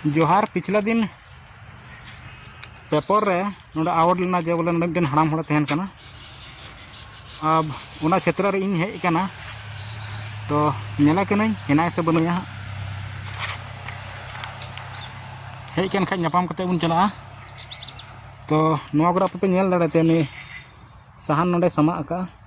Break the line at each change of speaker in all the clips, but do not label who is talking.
ᱡᱚᱦᱟᱨ ᱯᱤᱪᱷᱞᱟ ᱫᱤᱱ ᱯᱮᱯᱚᱨ ᱨᱮ ᱱᱚᱰᱮ ᱟᱣᱟᱨᱰ ᱞᱮᱱᱟ ᱡᱮ ᱵᱚᱞᱮ ᱱᱚᱰᱮ ᱢᱤᱫᱴᱮᱱ ᱦᱟᱲᱟᱢ ᱦᱚᱲᱮ ᱛᱟᱦᱮᱱ ᱠᱟᱱᱟ ᱟᱨ ᱚᱱᱟ ᱪᱷᱮᱛᱨᱚ ᱨᱮ ᱤᱧ ᱦᱮᱡ ᱠᱟᱱᱟ ᱛᱚ ᱧᱮᱞᱮ ᱠᱟᱹᱱᱟᱹᱧ ᱦᱮᱱᱟᱭ ᱥᱮ ᱵᱟᱹᱱᱩᱭᱟ ᱦᱟᱸᱜ ᱦᱮᱡ ᱠᱟᱱ ᱠᱷᱟᱡ ᱧᱟᱯᱟᱢ ᱠᱟᱛᱮ ᱵᱚᱱ ᱪᱟᱞᱟᱜᱼᱟ ᱛᱚ ᱱᱚᱣᱟ ᱠᱚᱨᱮ ᱟᱯᱮ ᱯᱮ ᱧᱮᱞ ᱫᱟᱲᱮᱭᱟᱛᱟᱭᱟ ᱩᱱᱤ ᱥᱟᱦᱟᱱ ᱱᱚᱰᱮ ᱥᱟᱢᱟᱜ ᱟᱠᱟᱫᱼᱟ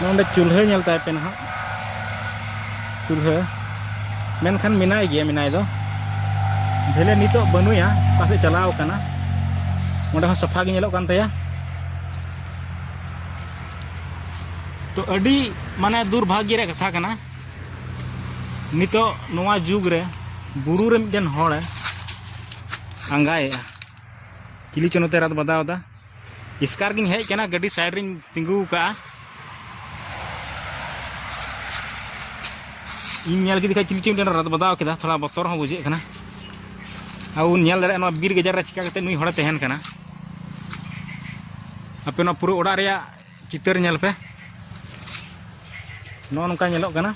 ᱱᱚᱰᱮ ᱪᱩᱞᱦᱟᱹ ᱧᱮᱞ ᱛᱟᱭ ᱯᱮ ᱱᱟᱦᱟᱜ ᱪᱩᱞᱦᱟᱹ ᱢᱮᱱᱠᱷᱟᱱ ᱢᱮᱱᱟᱭ ᱜᱮᱭᱟ ᱢᱮᱱᱟᱭ ᱫᱚ ᱵᱷᱮᱞᱮ ᱱᱤᱛᱚᱜ ᱵᱟᱹᱱᱩᱭᱟ ᱚᱠᱟ ᱥᱮᱫ ᱪᱟᱞᱟᱣ ᱠᱟᱱᱟ ᱚᱸᱰᱮ ᱦᱚᱸ ᱥᱟᱯᱷᱟ ᱜᱮ ᱧᱮᱞᱚᱜ ᱠᱟᱱ ᱛᱟᱭᱟ ᱛᱚ ᱟᱹᱰᱤ ᱢᱟᱱᱮ ᱫᱩᱨᱵᱷᱟᱜᱽᱭᱚ ᱨᱮᱭᱟᱜ ᱠᱟᱛᱷᱟ ᱠᱟᱱᱟ ᱱᱤᱛᱚᱜ ᱱᱚᱣᱟ ᱡᱩᱜᱽ ᱨᱮ ᱵᱩᱨᱩ ᱨᱮ ᱢᱤᱫᱴᱮᱱ ᱦᱚᱲᱮ ᱟᱸᱜᱟᱭᱮᱜᱼᱟ ᱪᱤᱞᱤ ᱪᱚ ᱱᱚᱛᱮ ᱨᱟᱫ ᱵᱟᱫᱟᱣ ᱮᱫᱟ ᱤᱥᱠᱟᱨ ᱜᱤᱧ ᱦᱮᱡ ᱠᱟᱱᱟ ᱜᱟᱹᱰᱤ ᱥᱟᱭᱤᱰ ᱨᱤᱧ ᱛᱤᱸᱜᱩ ᱠᱟᱜᱼᱟ ᱤᱧ ᱧᱮᱞ ᱠᱮᱫᱮ ᱠᱷᱟᱡ ᱪᱤᱞᱤ ᱪᱚᱝ ᱢᱤᱫᱴᱮᱱ ᱨᱟᱫ ᱵᱟᱫᱟᱣ ᱠᱮᱫᱟ ᱛᱷᱚᱲᱟ ᱵᱚᱛᱚᱨ ᱦᱚᱸ ᱵᱩᱡᱷᱟᱹᱜ ᱠᱟᱱᱟ ᱟᱨ ᱵᱚᱱ ᱧᱮᱞ ᱫᱟᱲᱮᱭᱟᱜᱼᱟ ᱱᱚᱣᱟ ᱵᱤᱨ ᱜᱟᱡᱟᱲ ᱨᱮ ᱪᱤᱠᱟ ᱠᱟᱛᱮ ᱱᱩᱭ ᱦᱚᱲᱮ ᱛᱟᱦᱮᱱ ᱠᱟᱱᱟ ᱟᱯᱮ ᱱᱚᱣᱟ ᱯᱩᱨᱟᱹ ᱚᱲᱟᱜ ᱨᱮᱭᱟᱜ ᱪᱤᱛᱟᱹᱨ ᱧᱮᱞ ᱯᱮ ᱱᱚᱜᱼᱚ ᱱᱚᱝᱠᱟ ᱧᱮᱞᱚᱜ ᱠᱟᱱᱟ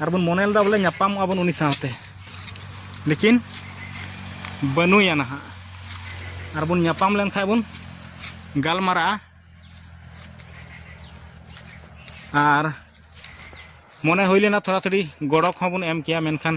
ᱟᱨ ᱵᱚᱱ ᱢᱚᱱᱮ ᱞᱮᱫᱟ ᱵᱚᱞᱮ ᱧᱟᱯᱟᱢᱚᱜᱼᱟ ᱵᱚᱱ ᱩᱱᱤ ᱥᱟᱶᱛᱮ ᱞᱮᱠᱤᱱ ᱵᱟᱹᱱᱩᱭᱟ ᱱᱟᱦᱟᱜ ᱟᱨ ᱵᱚᱱ ᱧᱟᱯᱟᱢ ᱞᱮᱱᱠᱷᱟᱡ ᱵᱚᱱ ᱜᱟᱞᱢᱟᱨᱟᱜᱼᱟ ᱟᱨ ᱢᱚᱱᱮ ᱦᱩᱭ ᱞᱮᱱᱟ ᱛᱷᱚᱲᱟ ᱛᱷᱚᱲᱤ ᱜᱚᱲᱚ ᱠᱚᱦᱚᱸ ᱵᱚᱱ ᱮᱢ ᱠᱮᱭᱟ ᱢᱮᱱᱠᱷᱟᱱ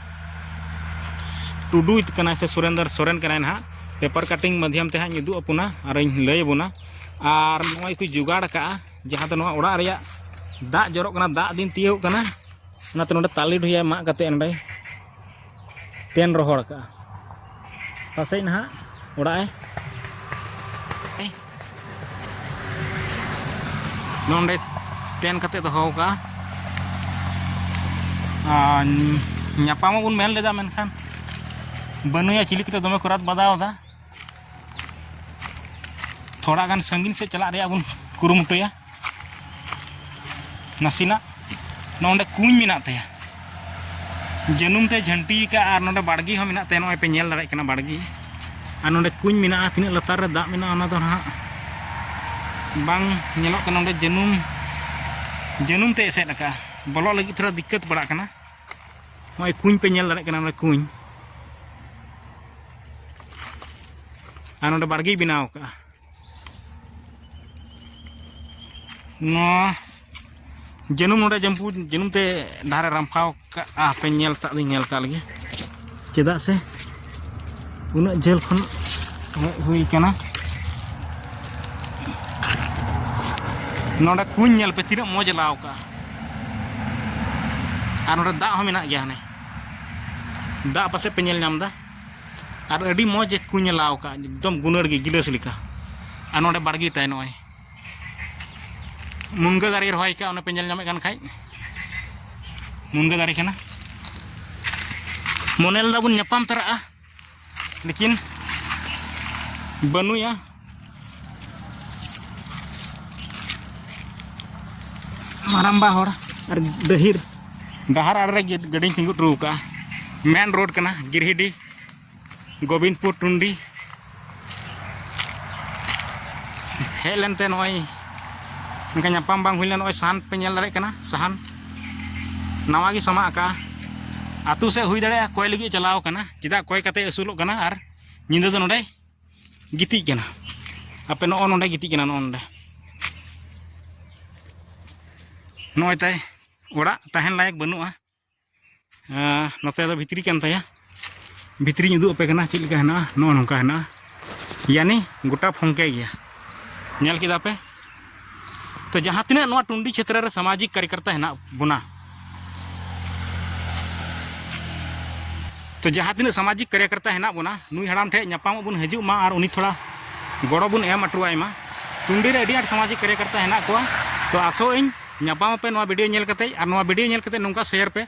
ᱴᱩᱰᱩ ᱠᱟᱱᱟᱭ ᱥᱮ ᱥᱩᱨᱮᱱᱫᱨ ᱥᱚᱨᱮᱱ ᱠᱟᱱᱟᱭ ᱱᱟᱦᱟᱜ ᱯᱮᱯᱟᱨ ᱠᱟᱴᱤᱝ ᱢᱟᱫᱽᱭᱚᱢ ᱛᱮ ᱦᱟᱸᱜ ᱩᱫᱩᱜ ᱟᱯᱚᱱᱟ ᱟᱨ ᱤᱧ ᱞᱟᱹᱭ ᱟᱵᱚᱱᱟ ᱟᱨ ᱱᱚᱜᱼᱚᱭ ᱠᱚ ᱡᱚᱜᱟᱲ ᱠᱟᱜᱼᱟ ᱡᱟᱦᱟᱸ ᱫᱚ ᱱᱚᱣᱟ ᱚᱲᱟᱜ ᱨᱮᱭᱟᱜ ᱫᱟᱜ ᱡᱚᱨᱚᱜ ᱠᱟᱱᱟ ᱫᱟᱜ ᱫᱤᱱ ᱛᱤᱭᱳᱜ ᱠᱟᱱᱟ ᱚᱱᱟᱛᱮ ᱱᱚᱰᱮ ᱛᱟᱞᱮ ᱰᱷᱩᱭᱟᱭ ᱢᱟᱜ ᱠᱟᱛᱮ ᱱᱚᱰᱮ ᱛᱮᱱ ᱨᱚᱦᱚᱲ ᱠᱟᱜᱼᱟ ᱯᱟᱥᱮᱡ ᱱᱟᱦᱟᱜ ᱚᱲᱟᱜ ᱮ ᱱᱚᱰᱮ ᱛᱮᱱ ᱠᱟᱛᱮ ᱫᱚᱦᱚ ᱠᱟᱜᱼᱟ ᱟᱨ ᱧᱟᱯᱟᱢ ᱵᱚᱱ ᱢᱮᱱ ᱞᱮᱫᱟ ᱢᱮᱱᱠᱷᱟᱱ ᱵᱟᱹᱱᱩᱭᱟ ᱪᱤᱞᱤ ᱠᱚᱛᱮ ᱫᱚᱢᱮ ᱠᱚᱨᱟᱛ ᱵᱟᱫᱟᱣ ᱫᱟ ᱛᱷᱚᱲᱟ ᱜᱟᱱ ᱥᱟᱺᱜᱤᱧ ᱥᱮᱫ ᱪᱟᱞᱟᱜ ᱨᱮᱭᱟᱜ ᱵᱚᱱ ᱠᱩᱨᱩᱢᱩᱴᱩᱭᱟ ᱱᱟᱥᱮᱱᱟᱜ ᱱᱚᱰᱮ ᱠᱩᱧ ᱢᱮᱱᱟᱜ ᱛᱟᱭᱟ ᱡᱟᱹᱱᱩᱢ ᱛᱮ ᱡᱷᱟᱹᱱᱴᱤ ᱟᱠᱟᱫ ᱟᱨ ᱱᱚᱰᱮ ᱵᱟᱲᱜᱮ ᱦᱚᱸ ᱢᱮᱱᱟᱜ ᱛᱟᱭᱟ ᱱᱚᱜᱼᱚᱭ ᱯᱮ ᱧᱮᱞ ᱫᱟᱲᱮᱭᱟᱜ ᱠᱟᱱᱟ ᱵᱟᱲᱜᱮ ᱟᱨ ᱱᱚᱰᱮ ᱠᱩᱧ ᱢᱮᱱᱟᱜᱼᱟ ᱛᱤᱱᱟᱹᱜ ᱞᱟᱛᱟᱨ ᱨᱮ ᱫᱟᱜ ᱢᱮᱱᱟᱜᱼᱟ ᱚᱱᱟ ᱫᱚ ᱱᱟᱦᱟᱜ ᱵᱟᱝ ᱧᱮᱞᱚᱜ ᱠᱟᱱᱟ ᱱᱚᱰᱮ ᱡᱟᱹᱱᱩᱢ ᱡᱟᱹᱱᱩᱢ ᱛᱮ ᱮᱥᱮᱫ ᱟᱠᱟᱫᱼᱟ ᱵᱚᱞᱚᱜ ᱞᱟᱹᱜᱤᱫ ᱛᱷᱚᱲᱟ ᱫᱤᱠᱠᱟᱹᱛ ᱯᱟᱲᱟᱜ ᱠᱟᱱᱟ ᱱᱚᱜᱼᱚᱭ ᱠᱩᱧ ᱯᱮ ᱧᱮᱞ ᱫᱟᱲᱮᱭᱟᱜ ᱠᱟᱱᱟ ᱱᱚᱰᱮ ᱠᱩᱧ ᱟᱨ ᱱᱚᱰᱮ ᱵᱟᱲᱜᱮᱭ ᱵᱮᱱᱟᱣ ᱟᱠᱟᱫᱼᱟ ᱱᱚᱣᱟ ᱡᱟᱹᱱᱩᱢ ᱱᱚᱰᱮ ᱡᱟᱹᱢᱯᱩ ᱡᱟᱹᱱᱩᱢ ᱛᱮ ᱰᱟᱦᱟᱨᱮ ᱨᱟᱢᱯᱷᱟᱣ ᱠᱟᱜᱼᱟ ᱦᱟᱯᱮ ᱧᱮᱞ ᱠᱟᱜ ᱞᱤᱧ ᱧᱮᱞ ᱠᱟᱜ ᱞᱮᱜᱮ ᱪᱮᱫᱟᱜ ᱥᱮ ᱩᱱᱟᱹᱜ ᱡᱷᱟᱹᱞ ᱠᱷᱚᱱ ᱦᱮᱡ ᱦᱩᱭ ᱠᱟᱱᱟ ᱱᱚᱰᱮ ᱠᱩᱧ ᱧᱮᱞ ᱯᱮ ᱛᱤᱱᱟᱹᱜ ᱢᱚᱡᱽ ᱞᱟᱣ ᱠᱟᱜᱼᱟ ᱟᱨ ᱱᱚᱰᱮ ᱫᱟᱜ ᱦᱚᱸ ᱢᱮᱱᱟᱜ ᱜᱮᱭᱟ ᱦᱟᱱᱮ ᱫᱟᱜ ᱯᱟᱥᱮᱡ ᱯᱮ ᱧᱮᱞ ᱧᱟᱢᱫᱟ ᱟᱨ ᱟᱹᱰᱤ ᱢᱚᱡᱽ ᱠᱚ ᱧᱮᱞᱟᱣ ᱟᱠᱟᱫ ᱮᱠᱫᱚᱢ ᱜᱩᱱᱟᱹᱲ ᱜᱮ ᱜᱤᱞᱟᱹᱥ ᱞᱮᱠᱟ ᱟᱨ ᱱᱚᱰᱮ ᱵᱟᱲᱜᱮ ᱛᱟᱭ ᱱᱚᱜᱼᱚᱭ ᱢᱩᱱᱜᱟᱹ ᱫᱟᱨᱮ ᱨᱚᱦᱚᱭ ᱠᱟᱜᱼᱟ ᱚᱱᱮ ᱯᱮ ᱧᱮᱞ ᱧᱟᱢᱮᱫ ᱠᱟᱱ ᱠᱷᱟᱡ ᱢᱩᱱᱜᱟᱹ ᱫᱟᱨᱮ ᱠᱟᱱᱟ ᱢᱚᱱᱮ ᱞᱮᱫᱟ ᱵᱚᱱ ᱧᱟᱯᱟᱢ ᱛᱚᱨᱟᱜᱼᱟ ᱞᱮᱠᱤᱱ ᱵᱟᱹᱱᱩᱭᱟ ᱢᱟᱨᱟᱢᱵᱟ ᱦᱚᱲ ᱟᱨ ᱰᱟᱹᱦᱤᱨ ᱰᱟᱦᱟᱨ ᱟᱲᱮ ᱨᱮ ᱜᱟᱹᱰᱤᱧ ᱛᱤᱸᱜᱩ ᱦᱚᱴᱚ ᱟᱠᱟᱫᱼᱟ ᱢᱮᱱ ᱨᱳᱰ ᱠᱟᱱᱟ ᱜᱤᱨᱦᱤᱰᱤ ᱜᱳᱵᱤᱱᱫᱯᱩᱨ ᱴᱩᱱᱰᱤ ᱦᱮᱡ ᱞᱮᱱᱛᱮ ᱱᱚᱜᱼᱚᱭ ᱚᱱᱠᱟ ᱧᱟᱯᱟᱢ ᱵᱟᱝ ᱦᱩᱭ ᱞᱮᱱᱟ ᱱᱚᱜᱼᱚᱭ ᱥᱟᱦᱟᱱ ᱯᱮ ᱧᱮᱞ ᱫᱟᱲᱮᱭᱟᱜ ᱠᱟᱱᱟ ᱥᱟᱦᱟᱱ ᱱᱟᱣᱟ ᱜᱮ ᱥᱟᱢᱟᱜ ᱟᱠᱟᱫᱼᱟ ᱟᱛᱳ ᱥᱮᱫ ᱦᱩᱭ ᱫᱟᱲᱮᱭᱟᱜᱼᱟ ᱠᱚᱭ ᱞᱟᱹᱜᱤᱫ ᱪᱟᱞᱟᱣ ᱠᱟᱱᱟ ᱪᱮᱫᱟᱜ ᱠᱚᱭ ᱠᱟᱛᱮ ᱟᱹᱥᱩᱞᱚᱜ ᱠᱟᱱᱟ ᱟᱨ ᱧᱤᱫᱟᱹ ᱫᱚ ᱱᱚᱰᱮ ᱜᱤᱛᱤᱡ ᱠᱟᱱᱟ ᱟᱯᱮ ᱱᱚᱜᱼᱚ ᱱᱚᱰᱮ ᱜᱤᱛᱤᱡ ᱠᱟᱱᱟ ᱱᱚᱜᱼᱚ ᱱᱚᱰᱮ ᱱᱚᱜᱼᱚᱭ ᱛᱟᱭ ᱚᱲᱟᱜ ᱛᱟᱦᱮᱱ ᱞᱟᱭᱮᱠ ᱵᱟᱹᱱᱩᱜᱼᱟ ᱱᱚᱛᱮ ᱫᱚ ᱵᱷᱤᱛᱨᱤ ᱠᱟᱱ ᱛᱟᱭᱟ ᱵᱷᱤᱛᱨᱤᱧ ᱩᱫᱩᱜ ᱟᱯᱮ ᱠᱟᱱᱟ ᱪᱮᱫ ᱞᱮᱠᱟ ᱦᱮᱱᱟᱜᱼᱟ ᱱᱚᱜᱼᱚ ᱱᱚᱝᱠᱟ ᱦᱮᱱᱟᱜᱼᱟ ᱭᱟᱱᱤ ᱜᱚᱴᱟ ᱯᱷᱚᱝᱠᱮ ᱜᱮᱭᱟ ᱧᱮᱞ ᱠᱮᱫᱟ ᱯᱮ ᱛᱚ ᱡᱟᱦᱟᱸ ᱛᱤᱱᱟᱹᱜ ᱱᱚᱣᱟ ᱴᱩᱱᱰᱤ ᱪᱷᱮᱛᱨᱚ ᱨᱮ ᱥᱟᱢᱟᱡᱤᱠ ᱠᱟᱨᱭᱚᱠᱚᱨᱛᱟ ᱦᱮᱱᱟᱜ ᱵᱚᱱᱟ ᱛᱚ ᱡᱟᱦᱟᱸ ᱛᱤᱱᱟᱹᱜ ᱥᱟᱢᱟᱡᱤᱠ ᱠᱟᱨᱭᱚᱠᱚᱨᱛᱟ ᱦᱮᱱᱟᱜ ᱵᱚᱱᱟ ᱱᱩᱭ ᱦᱟᱲᱟᱢ ᱴᱷᱮᱱ ᱧᱟᱯᱟᱢᱚᱜ ᱵᱚᱱ ᱦᱤᱡᱩᱜ ᱢᱟ ᱟᱨ ᱩᱱᱤ ᱛᱷᱚᱲᱟ ᱜᱚᱲᱚ ᱵᱚᱱ ᱮᱢ ᱦᱚᱴᱚᱣᱟᱭ ᱢᱟ ᱴᱩᱱᱰᱤ ᱨᱮ ᱟᱹᱰᱤ ᱟᱸᱴ ᱥᱟᱢᱟᱡᱤᱠ ᱠᱟᱨᱭᱚᱠᱚᱨᱛᱟ ᱦᱮᱱᱟᱜ ᱠᱚᱣᱟ ᱛᱚ ᱟᱥᱚᱜ ᱟᱹᱧ ᱧᱟᱯᱟᱢ ᱟᱯᱮ ᱱᱚᱣᱟ ᱵᱷᱤᱰᱤᱭᱳ ᱧᱮᱞ ᱠᱟᱛᱮᱫ ᱟᱨ ᱱᱚᱣᱟ ᱵᱷᱤᱰᱤᱭᱳ ᱧᱮᱞ ᱠᱟᱛᱮᱫ ᱱᱚᱝᱠᱟ ᱥᱮᱭᱟᱨ ᱯᱮ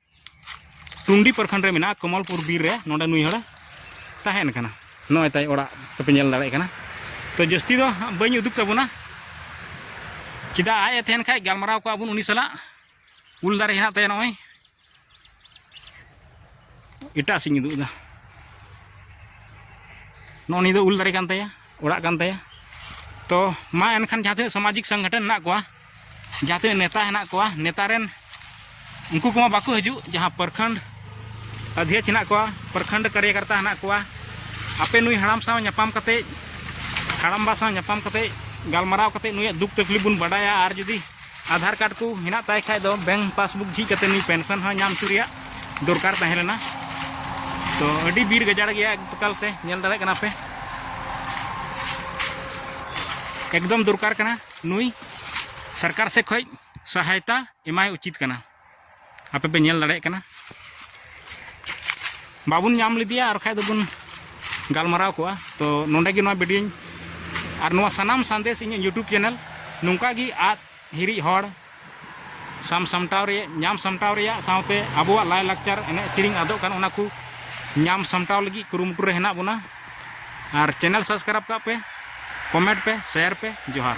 ᱴᱩᱱᱰᱤ ᱯᱨᱚᱠᱷᱚᱸᱰ ᱨᱮ ᱢᱮᱱᱟᱜᱼᱟ ᱠᱚᱢᱚᱞᱯᱩᱨ ᱵᱤᱨ ᱨᱮ ᱱᱚᱰᱮ ᱱᱩᱭ ᱦᱚᱲ ᱛᱟᱦᱮᱱ ᱠᱟᱱᱟ ᱱᱚᱜᱼᱚᱭ ᱛᱟᱭ ᱚᱲᱟᱜ ᱠᱚᱯᱮ ᱧᱮᱞ ᱫᱟᱲᱮᱭᱟᱜ ᱠᱟᱱᱟ ᱛᱚ ᱡᱟᱹᱥᱛᱤ ᱫᱚ ᱵᱟᱹᱧ ᱩᱫᱩᱜ ᱛᱟᱵᱚᱱᱟ ᱪᱮᱫᱟᱜ ᱟᱡ ᱮ ᱛᱟᱦᱮᱱ ᱠᱷᱟᱡ ᱜᱟᱞᱢᱟᱨᱟᱣ ᱠᱚᱜᱼᱟ ᱵᱚᱱ ᱩᱱᱤ ᱥᱟᱞᱟᱜ ᱩᱞ ᱫᱟᱨᱮ ᱦᱮᱱᱟᱜ ᱛᱟᱭᱟ ᱱᱚᱜᱼᱚᱭ ᱮᱴᱟᱜ ᱥᱮᱫ ᱤᱧ ᱩᱫᱩᱜ ᱮᱫᱟ ᱱᱚᱜᱼᱚ ᱱᱤᱭᱟᱹ ᱫᱚ ᱩᱞ ᱫᱟᱨᱮ ᱠᱟᱱ ᱛᱟᱭᱟ ᱚᱲᱟᱜ ᱠᱟᱱ ᱛᱟᱭᱟ ᱛᱚ ᱢᱟ ᱮᱱᱠᱷᱟᱱ ᱡᱟᱦᱟᱸ ᱛᱤᱱᱟᱹᱜ ᱥᱟᱢᱟᱡᱤᱠ ᱥᱚᱝᱜᱚᱴᱷᱚᱱ ᱦᱮᱱᱟᱜ ᱠᱚᱣᱟ ᱡᱟᱦᱟᱸ ᱛᱤᱱᱟᱹᱜ ᱱᱮᱛᱟ ᱦᱮᱱᱟᱜ ᱠᱚᱣᱟ ᱱᱮᱛᱟ ᱨᱮᱱ ᱩᱱᱠᱩ ᱠᱚᱢᱟ ᱵᱟᱠᱚ ᱦᱤᱡᱩᱜ ᱡᱟᱦᱟᱸ ᱯᱨᱚᱠᱷᱚᱸᱰ ᱟᱫᱷᱭᱚᱠᱥ ᱦᱮᱱᱟᱜ ᱠᱚᱣᱟ ᱯᱨᱚᱠᱷᱚᱸᱰ ᱠᱟᱨᱭᱚᱠᱚᱨᱛᱟ ᱦᱮᱱᱟᱜ ᱠᱚᱣᱟ ᱟᱯᱮ ᱱᱩᱭ ᱦᱟᱲᱟᱢ ᱥᱟᱶ ᱧᱟᱯᱟᱢ ᱠᱟᱛᱮ ᱦᱟᱲᱟᱢᱵᱟ ᱥᱟᱶ ᱧᱟᱯᱟᱢ ᱠᱟᱛᱮ ᱜᱟᱞᱢᱟᱨᱟᱣ ᱠᱟᱛᱮ ᱱᱩᱭᱟᱜ ᱫᱩᱠ ᱛᱟᱠᱞᱤᱯ ᱵᱚᱱ ᱵᱟᱰᱟᱭᱟ ᱟᱨ ᱡᱩᱫᱤ ᱟᱫᱷᱟᱨ ᱠᱟᱨᱰ ᱠᱚ ᱦᱮᱱᱟᱜ ᱛᱟᱭ ᱠᱷᱟᱡ ᱫᱚ ᱵᱮᱝᱠ ᱯᱟᱥᱵᱩᱠ ᱡᱷᱤᱡ ᱠᱟᱛᱮ ᱱᱩᱭ ᱯᱮᱱᱥᱚᱱ ᱦᱚᱸ ᱧᱟᱢ ᱦᱚᱪᱚ ᱨᱮᱭᱟᱜ ᱫᱚᱨᱠᱟᱨ ᱛᱟᱦᱮᱸ ᱞᱮᱱᱟ ᱛᱚ ᱟᱹᱰᱤ ᱵᱤᱨ ᱜᱟᱡᱟᱲ ᱜᱮᱭᱟ ᱮᱠᱫᱚᱠᱟᱞ ᱛᱮ ᱧᱮᱞ ᱫᱟᱲᱮᱭᱟᱜ ᱠᱟᱱᱟ ᱯᱮ ᱮᱠᱫᱚᱢ ᱫᱚᱨᱠᱟᱨ ᱠᱟᱱᱟ ᱱᱩᱭ ᱥᱚᱨᱠᱟᱨ ᱥᱮᱫ ᱠᱷᱚᱱ ᱥᱟᱦᱟᱭᱛᱟ ᱮᱢᱟᱭ ᱩᱪᱤᱛ ᱠᱟᱱᱟ ᱟᱯᱮ ᱯᱮ ᱧᱮᱞ ᱫᱟᱲᱮᱭᱟᱜ ᱠᱟᱱᱟ ᱵᱟᱵᱚᱱ ᱧᱟᱢ ᱞᱮᱫᱮᱭᱟ ᱟᱨ ᱠᱷᱟᱡ ᱫᱚᱵᱚᱱ ᱜᱟᱞᱢᱟᱨᱟᱣ ᱠᱚᱜᱼᱟ ᱛᱚ ᱱᱚᱰᱮ ᱜᱮ ᱱᱚᱣᱟ ᱵᱷᱤᱰᱤᱭᱳᱧ ᱟᱨ ᱱᱚᱣᱟ ᱥᱟᱱᱟᱢ ᱥᱟᱸᱫᱮᱥ ᱤᱧᱟᱹᱜ ᱤᱭᱩᱴᱩᱵᱽ ᱪᱮᱱᱮᱞ ᱱᱚᱝᱠᱟ ᱜᱮ ᱟᱫ ᱦᱤᱨᱤᱡ ᱦᱚᱲ ᱥᱟᱢ ᱥᱟᱢᱴᱟᱣ ᱨᱮ ᱧᱟᱢ ᱥᱟᱢᱴᱟᱣ ᱨᱮᱭᱟᱜ ᱥᱟᱶᱛᱮ ᱟᱵᱚᱣᱟᱜ ᱞᱟᱭ ᱞᱟᱠᱪᱟᱨ ᱮᱱᱮᱡ ᱥᱮᱨᱮᱧ ᱟᱫᱚᱜ ᱠᱟᱱ ᱚᱱᱟ ᱠᱚ ᱧᱟᱢ ᱥᱟᱢᱴᱟᱣ ᱞᱟᱹᱜᱤᱫ ᱠᱩᱨᱩᱢᱩᱴᱩ ᱨᱮ ᱦᱮᱱᱟᱜ ᱵᱚᱱᱟ ᱟᱨ ᱪᱮᱱᱮᱞ ᱥᱟᱵᱥᱠᱨᱟᱭᱤᱵᱽ ᱠᱟᱜ ᱯᱮ ᱠᱚᱢᱮᱱᱴ ᱯᱮ ᱥᱮᱭᱟᱨ ᱯᱮ ᱡᱚᱦᱟᱨ